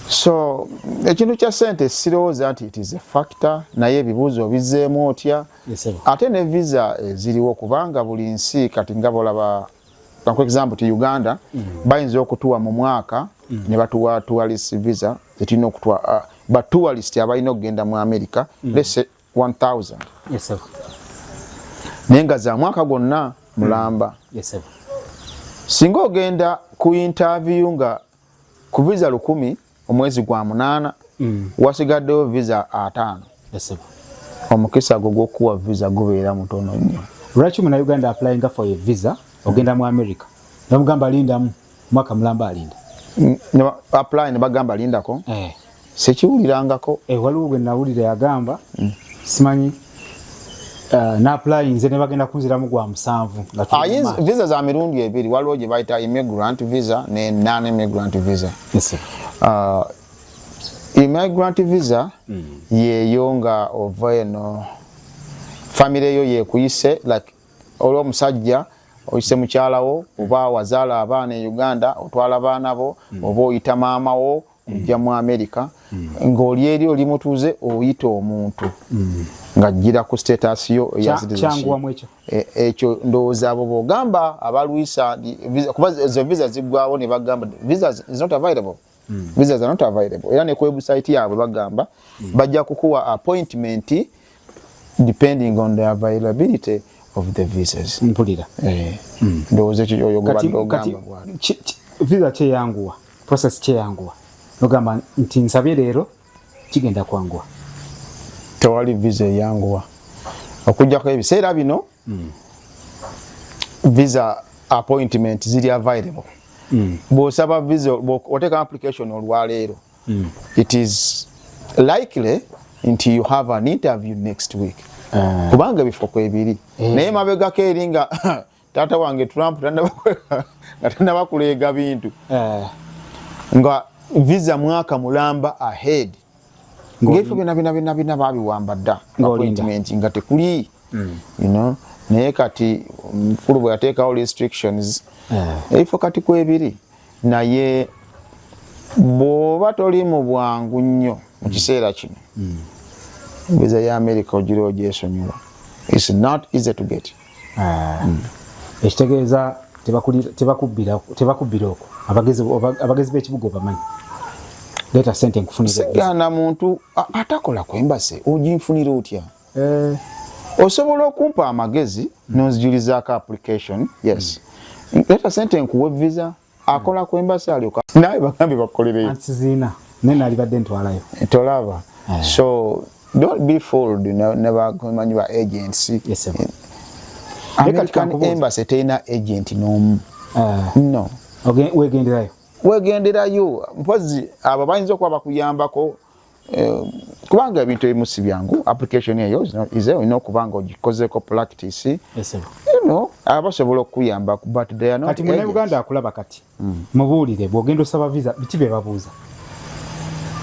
so ekintu kya sente sirowooza nti it is a factor naye ebibuuzo obizeemu otya ate ne visa eziriwo kubanga buli nsi kati nga bolaba for example ti Uganda mm. bayinza okutuwa mu mwaka mm. ne batuwa tourist visa zetulina okutuwa uh, ba tourist abalina okugenda mu America mm. let's say 1000 yes sir naye nga za mwaka gwonna mulamba mm. yes sir singa ogenda ku interview nga ku visa lukumi omwezi gwa munaana mm. wasigaddewo visa ataano omukisa gwo gwokukuwa visa gubeera mutono nnyo lwaki muna uganda aplyinga for a visa ogenda mu america namugamba lindamu mwaka mulamba alinda mm, apply ne bagamba lindako eh. sekiwulirangako eh, waliwo gwe nawulira yagamba mm. simanyi uh, eh, napulayinze ne bagenda kunziramu gwa musanvu ah, visa za mirundi ebiri waliwo gye bayita immigrant visa ne non immigrant visa yes, uh, immigrant visa mm. yeyo nga ova eno famire yo yekuyise like olwo omusajja oyise mukyalawo oba wazaala abaana e uganda otwala baana bo mm. oba oyita maama wo ojja mu america ng'oli eri oli mutuuze oyita omuntu ng'ajjira ku status yo e, ekyo ndowooza abo bogamba abalwisa kuba ezo visa ziggwawo ne bagamba visa is not available visa is not available era ne ku website yaabwe bagamba bajja kukuwa appointment depending on the availability of the visas mpulira eh mm. ndowoza ekyo oyo gobadde ogamba visa kyeyanguwa process kyeyanguwa ogamba nti nsabye leero kigenda kwanguwa tewali visa eyanguwa okujjako ebiseera bino mm. visa appointment ziri available mm. bwosaba visa oteka application olwaleero mm. it is likely nti you have an interview next week uh. kubanga ebifo kwebiri mm. naye mabegako eri nga taata wange trump nga tanabakuleega bintu uh. nga visa mwaka mulamba ahead ngaebifo byona byona byona byona babiwamba dda appointment nga tekuli mm. you know naye kati mukulu bwe yateekawo restrictions eh. ebifo kati kwebiri naye bwoba toli mu bwangu nnyo mu kiseera kino viza ya amerika ogira ogyesonyiwa its not easy to get ah. mm. ekitegeeza tebakubbira okwo abagezi b'ekibuga obamanyi leeta sente nkufunire sigana muntu atakola ku embasi oginfunira otya Eh, osobola okumpa amagezi nonzijulizaako application yes mm. leta sente nkuwe visa akola ku embasi alyoka naye bagambye bakolereyoziina naye nalibadde ntwalayo eh, tolaba eh. so don't be fooled nebamanyi ba agents american embasi terina agent nomu no wegenderayo wegenderayo mpozi abo bayinza okuba bakuyambako Eh, kubanga ebintu ebimu si byangu application eyo ize olina okuba nga ogikozeko practice eno abasobola okukuyamba but kati munauganda akulaba kati hmm. mubuulire bwogenda osaba visa biki bye babuuza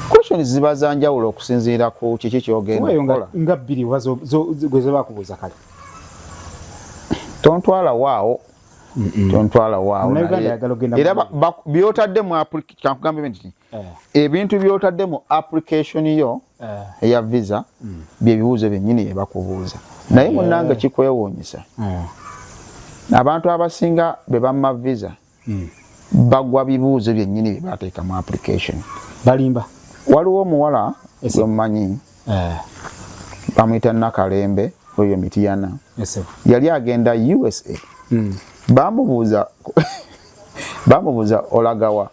questions ziba za njawulo okusinziira ku kiki kyogendaola nga bbiri oba gwezebakubuuza kale tontwala waawo tontwala waawo era byotadde mu application kankugambe nti eh. ebintu byotadde mu application yo eh. eya visa mm. byebibuuzo byenyini yebakubuuza naye eh. munange kikwewuunyisa abantu abasinga bebamma visa mm. bagwa bibuuzo byenyini byebateeka mu application balimba waliwo omuwala gwemumanyi bamwita nakalembe oyo mitiyana yali agenda usa mm. bamubuuza bamubuuza olagawa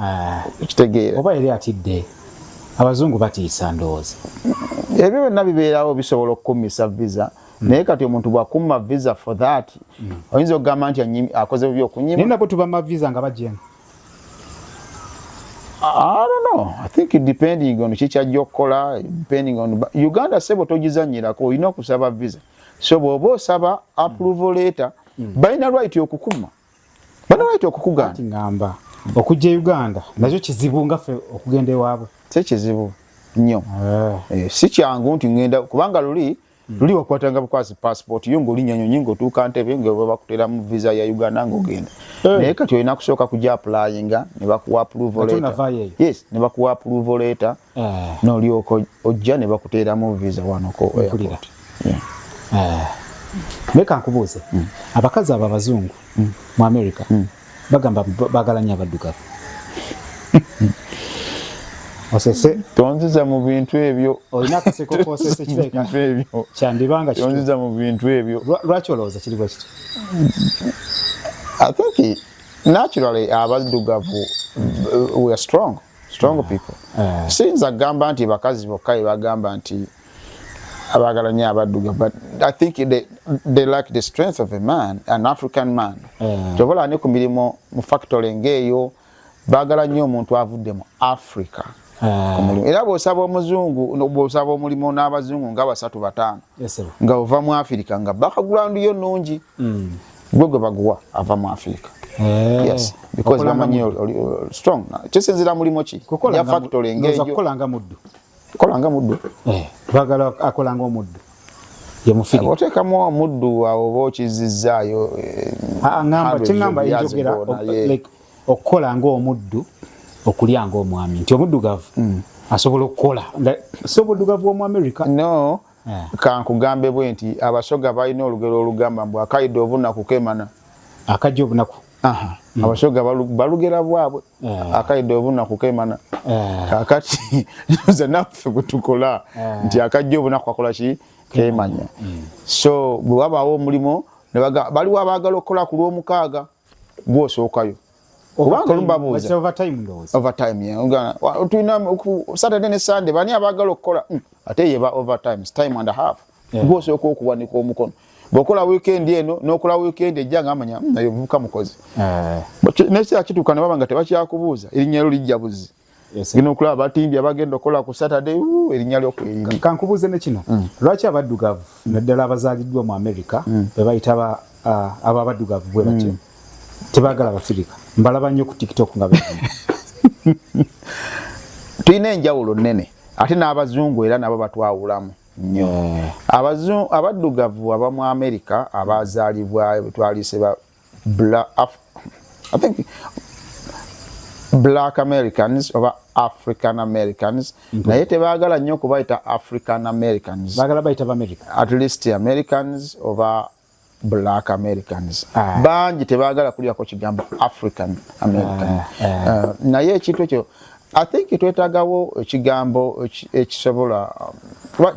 Ah, okitegeera oba yali atidde abazungu batiisa ndowooza ebyo byonna bibeerawo bisobola okukummisa visa hmm. naye kati omuntu bwakumma visa for that hmm. oyinza okugamba nti akoze bubi okunyima naye nabo tubama visa nga bajemu I don't know. I think it depending on chicha jokola, depending on Uganda sebo tojizanyira ko ino kusaba visa. So bobo saba approval letter. Mm. Baina right yokukuma. banalwaite okukuganda ngamba okujja e uganda nakyo kizibu nga ffe okugenda ewaabwe si kizibu nnyo eh. Eh, si kyangu nti ngenda kubanga luli hmm. luli wakwatanga bukwasi passport yo ngoli nyanyo nyingo tuka ntebe nga baba kutera mu visa ya Uganda ngo genda eh. naye kati olina kusooka kuja applyinga ne bakuwa approval letter yes ne bakuwa approval letter eh. nolyoka ojja ne bakuteeramu visa wano ko airport eh. leka nkubuuze mm. abakazi abo abazungu mm. mu america mm. bagamba bagala nnyo abaddugavu osese tonziza mu bintu ebyo olina akaseko kosese kireka ebyo kyandibanga tonziza mu bintu ebyo lwaki olowooza kiri bwe kiti i think naturally abaddugavu uh, we are strong strong mm. people uh. sinza gamba nti bakazi bokka bagamba nti abagala nyo abaduga but i think they, they lack the strength of a man an african man mm. tobola ne ku mirimu mu factory ngeeyo bagala nyo omuntu avudde mu africa mm. era bwosaba omuzungu bwosaba omulimu n'abazungu nga basatu bataano yes, nga ova mu afirika nga background yo nungi mm. gwe gwe baguwa ava mu afirika eh, yes because bamanyi strong kisinzira mulimu ki ya factory ngeyo kolanga muddu kolanga muddu eh bagala akolanga omuddu ye mufiri otekamu omuddu awo bo kizizayo eh, ah, ah, ngamba kingamba injogera like okola nga omuddu okulya nga omwami nti omuddugavu mm. asobola okukola si omuddugavu womu america no Eh. kankugambe bwe nti abasoga balina olugero olugamba mbu akaida obunaku kemana akajja obunaku hmm. abasoga balugera bwabwe eh. akaida obunaku kemana eh. kakati nze naffe bwetukola nti akajja obunaku akola ki kemanya hmm. so bwe wabaawo omulimu baliwo abaagala okukola ku lwomukaaga gwosookayo saturday ne sunday bani abagala okukola hmm, ate yeba overtime time and a half gwosooka okuwanika omukono bwokola weekend eno nokola weekend ejja ngamanya hmm, naye omuvuka mukozi eh. naye kituuka nebaba nga tebakyakubuuza erinnya lyo lijja buzzi gino okulaba batimbye abagenda okukola ku saturday erinnya lyokweriri kankubuuze ne kino mm. lwaki abaddugavu naddala abazaaliddwa mu america mm. bebayita abo abaddugavu bwe batyo mm. tebagala abafirika mbalaba nnyo ku tiktok nga be tulina enjawulo nnene ate n'abazungu era nabo batwawulamu nnyo abaddugavu abamu america abazaalibwa betwalise Bla Af I think black americans oba african americans mm -hmm. naye tebagala nnyo okubayita african americans bagala bayita bamerica at least americans oba black americans ah. bangi tebagala kulyako kigambo african american ah, ah. Uh, naye ekintu ekyo i think twetagawo ekigambo ekisobola um,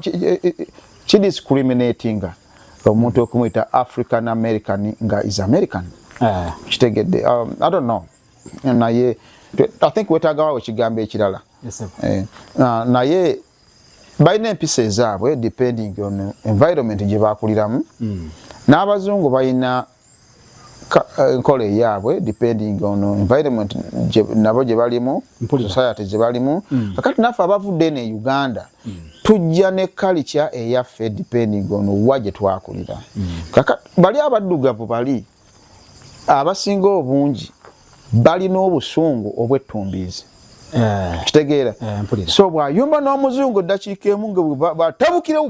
kidiscriminatinga omuntu okumuyita african american nga is american eh. kitegedde um, i don't know naye i think wetagawawo ekigambo ekirala eh, naye balina empisa ezaabwe depending on environment gyebakuliramu hmm. n'abazungu balina Eh, enkola eyaabwe depending on environment nabo gye balimu society gye balimu mm. kakati naffe abavudde ne uganda mm. tujja ne kalica eyaffe depending on wa gye twakulira mm. kakati bali abaddugavu bali abasinga obungi balina obusungu obwettumbiizi eh. kitegeera eh, so bwayumba n'omuzungu eddakiika emu nga batabukirewo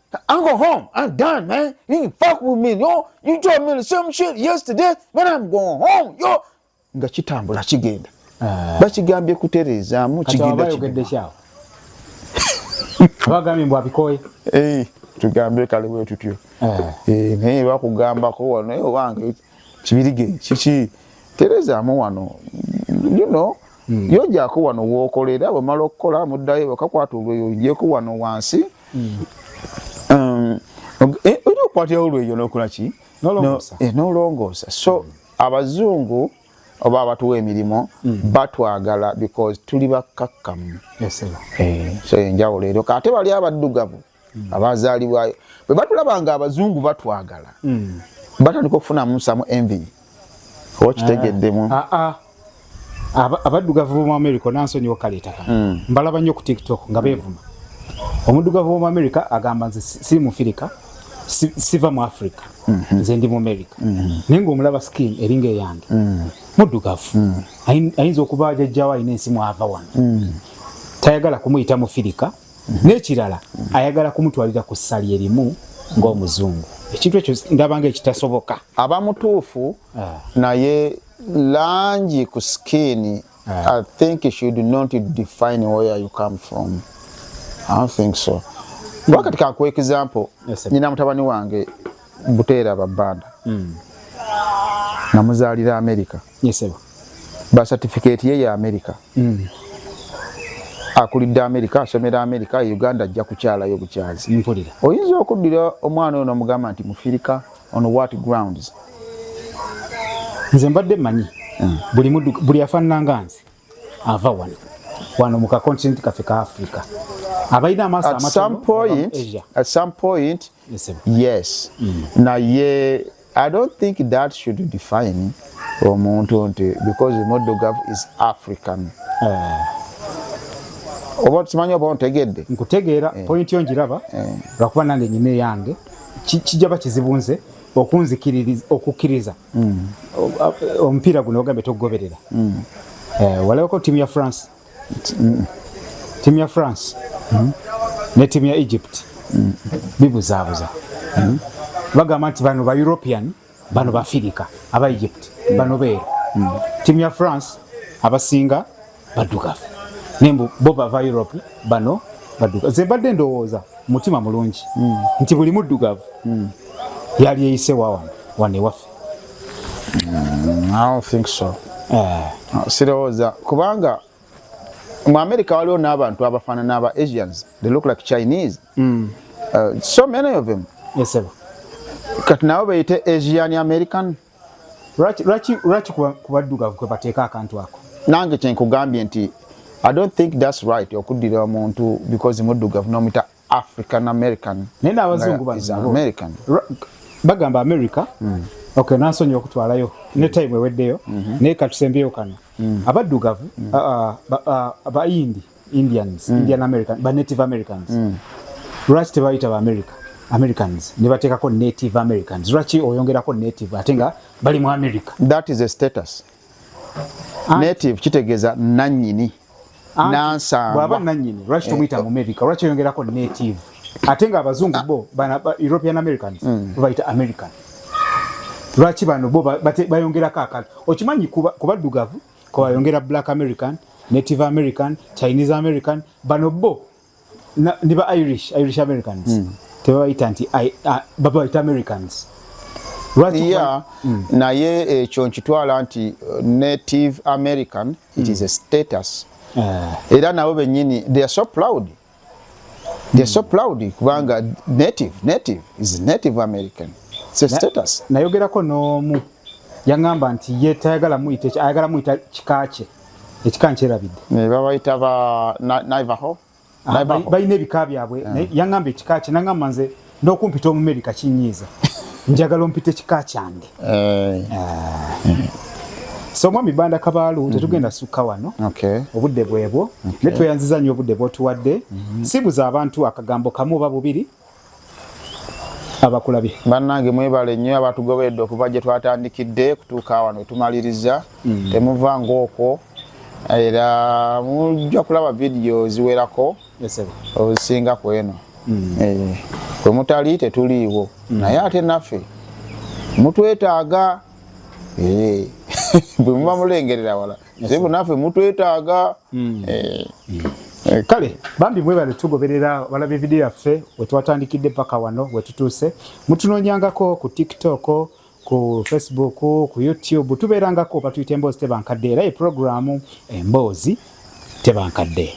I'm going home. I'm done, man. You can fuck with me. Yo, you told me the same shit yesterday, but I'm going home. Yo. Nga kitambula kigenda. Ah. Bakigambye kutereezaamu kigenda kigenda. Bagambye mbu abikoye. Eh, tugambe kale bwe tutyo. Eh, eh naye bakugambako wano ewange. Eh, kibirige kiki terezaamu wano you know mm. yojako wano wokolera bwemala okukola muddayo bakakwata olweyo njeko wano wansi mm. um, eh, olina okukwatira olweyo nokola ki nolongoosa eh, so mm. abazungu oba abatuwa emirimu mm. batwagala because tuli bakkakkamu yes, eh, so enjawulo eryo kate bali abaddugavu mm. abazaalibwayo bwe batulaba nga abazungu batwagala mm. batandika okufunamu samu envi oba ah. kitegeddemu ah, ah. abaddugavu bomu america nansonyi okaleetaka mm. mbalaba nnyo ku tiktok nga mm. beevuma omuddugavu womu america agamba nze siri mu firika siva mu africa mm-hmm. nze ndi mu america mm-hmm. naye ngaomulaba skin eringa eyange mm. muddugavu ayinza okuba ajajjawo alina ensi mwava wano tayagala kumuyita mufirika mhm. n'ekirala mhm. ayagala kumutwalira ku ssali erimu ng'omuzungu ekintu ekyo ndabanga ekitasoboka aba mutuufu ah. naye langi ku sikiini ah. i think should not define where you come from i don't think so hmm. wakati kankuwa example nyina mutabani wange buteera babbanda hmm. namuzaalira amerika yesebo ba certificate ye ya america mm. akulidde america asomera america uganda ajja kukyalayo bukyazi mpulira oyinza okuddira omwana ono mugamba nti mufirika on what grounds nze mbadde manyi mm. buli mudu buli afananga nze ava wano wano mu kakontinenti kaffe ka africa abalina amaaso at some point yes mm. naye i don't think that should define omuntu nti because muddugavu is african eh. oba tukimanyi oba ontegedde nkutegeera eh. point yo njiraba eh. lwakuba nange nyina eyange kijaba kizibu nze okunzikiririza okukkiriza mm. omupiira guno ogambye tokugoberera mm. eh, walabako tiimu ya france mm. tiimu ya france ne tiimu ya egypt bibuzaabuza bagamba nti bano ba european bano baafirika aba egypt bano beera tiimu ya france abasinga baddugavu naye mbu bo bava europe bano baddugavu ze mbadde ndowooza mutima mulungi mm. nti buli muddugavu mm. yali eyise wawa wano ewaffe mm, think so eh. ah, sirowooza kubanga mu america waliwo n'abantu abafaanana aba asians they look like chinese mm. uh, so many of them yes, kati nabo beyite asian american lwaki lwaki kubaddugavu kwe bateeka akantu ako nange kyenkugambye nti i don't think that's right okuddira omuntu because muddugavu nomita african american naye n'abazungu banoamerican bagamba america mm. okay nansonyiwa okutwalayo ne mm. time eweddeyo mm -hmm. naye katusembyeyo kano mm. abaddugavu mm. uh, uh, bayindi uh, uh, indians mm. indian american ba native americans mm. lwaki tebayita ba america americans ne bateekako native americans lwaki oyongerako native ate nga bali mu america that is a status Ant native kitegeeza nanyini nansangwa nanyini lwaki eh. tomuyita mu america lwaki oyongerako native ate nga abazungu bo bana european americans mm. bayita american lwaki bano bo bayongerako akala okimanyi kubaddugavu ko ayongera black american native american chinese american bano bo ne ba irish irish americans mm. tebabayita nti babayita americans yeah, mm. naye ekyo eh, nkitwala nti eh, native american it mm. is a hmm. status uh. era nabo benyini they are so proud They're so proud kubanga native native is native American. It's a status. Na yogera ko no mu yangamba nti ye tayagala mu ite ayagala mu ita kikache. Ekikanche rabide. Ne baba ita ba Navajo. Ah, Navajo. Ba ine bikabi abwe. Yeah. Yangamba kikache nangamba nze n'okumpita omumerika kinyiiza njagala ompita ekika kyange eh. eh. so omwami banda kabaalu mhm. tetugenda sukka wano obudde bwebwo ne tweyanziza nnyo obudde bwotuwadde mhm. sibuza abantu akagambo kamu oba bubiri abakulabye bannange mwebale nnyo abatugoberedde okuva gye twatandikidde kutuuka wano wetumaliriza mm. temuva ngaokwo era mujja kulaba vidiyo ziwerako ozisinga ku eno mm. eh, kwe mutali tetuliiwo mm. naye ate naffe mutwetaaga eh, bwe muba mulengerera wala zibu naffe mutwetaaga mm. eh, Eh, kale bambi mwebale tugoberera balaba evidiyo yaffe wetwatandikidde paka wano wetutuuse mutunoonyangako ku tiktok ku facebook ku youtube tubeerangako batuyita emboozi tebankadde era ye puroguramu emboozi tebankadde